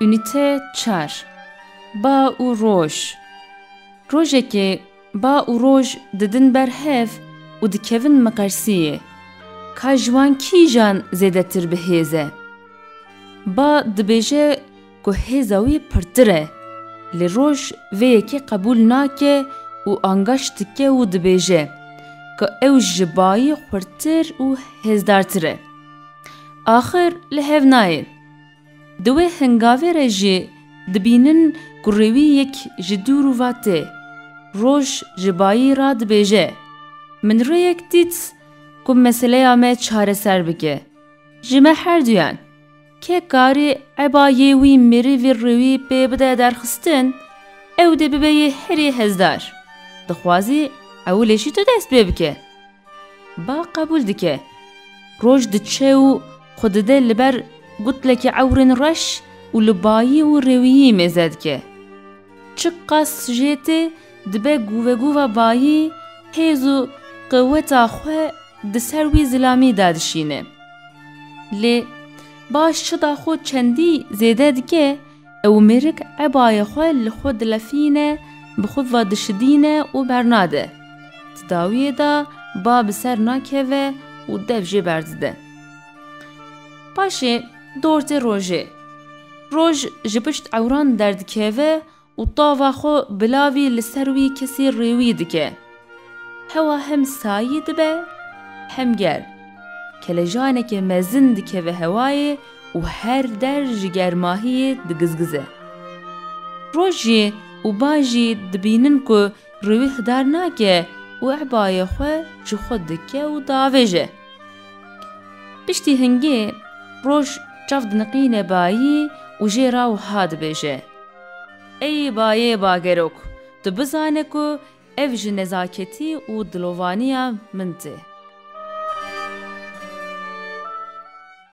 Unîte çar Ba û roj Rojekê ba û roj didin ber hev û dikevin miqersiyê. Ka ji wan kîjan zêdetir bi hêz e? Ba dibêje ku hêza wî pirtir e, lê roj vê yekê qebûl nake û angaş dike û dibêje ku ew ji bayî xurtir û hêzdartir e. Axir li hev nayê. Di wê hingavê re jî dibînin ku rêwîyek ji dûr û va tê. Roj ji bayî ra dibêje, Min rêyek dît ku meseleya me çareser bike. Ji me herduyan. Kê karê eba yê wî mirîvî riwî pê bide derxistin, ew dê bibe yê herî hezdar. Dixwazî ewilê jî tu dest pê bike. Ba qebûl dike. Roj diçe û xwe dide li ber gutlekî ewrên reş û li bayî û rêwîyî mêze dike. Çi qas jê tê dibe guvegûva bayî hêz û qeweta xwe di ser wî zilamî de dişîne. Lê baş çida xwe çendî zêde dike ew mêrik ebayê xwe li xwe dilefîne, bi xwe ve dişidîne û bernade. Di dawiyê de ba bi ser nakeve û dev jê berdide. Paşê dortê rojê. Roj ji pişt ewran derdikeve û tava xwe bilavî li ser wî kesî rêwî dike. Hewa hem sayî dibe hem germ. Kelejaneke mezin dikeve hewayê û her der ji germahiyê digizgize. Roj jî û bajî dibînin ku rê wî hidar nake û ebayê xwe ji xwe dike û diavêje. Piştî hingê roj çav diniqîne bayî û jê ra wiha dibêje, Ey bayê bagerok, tu bizane ku ev ji nezaketî û dilovaniya min tê.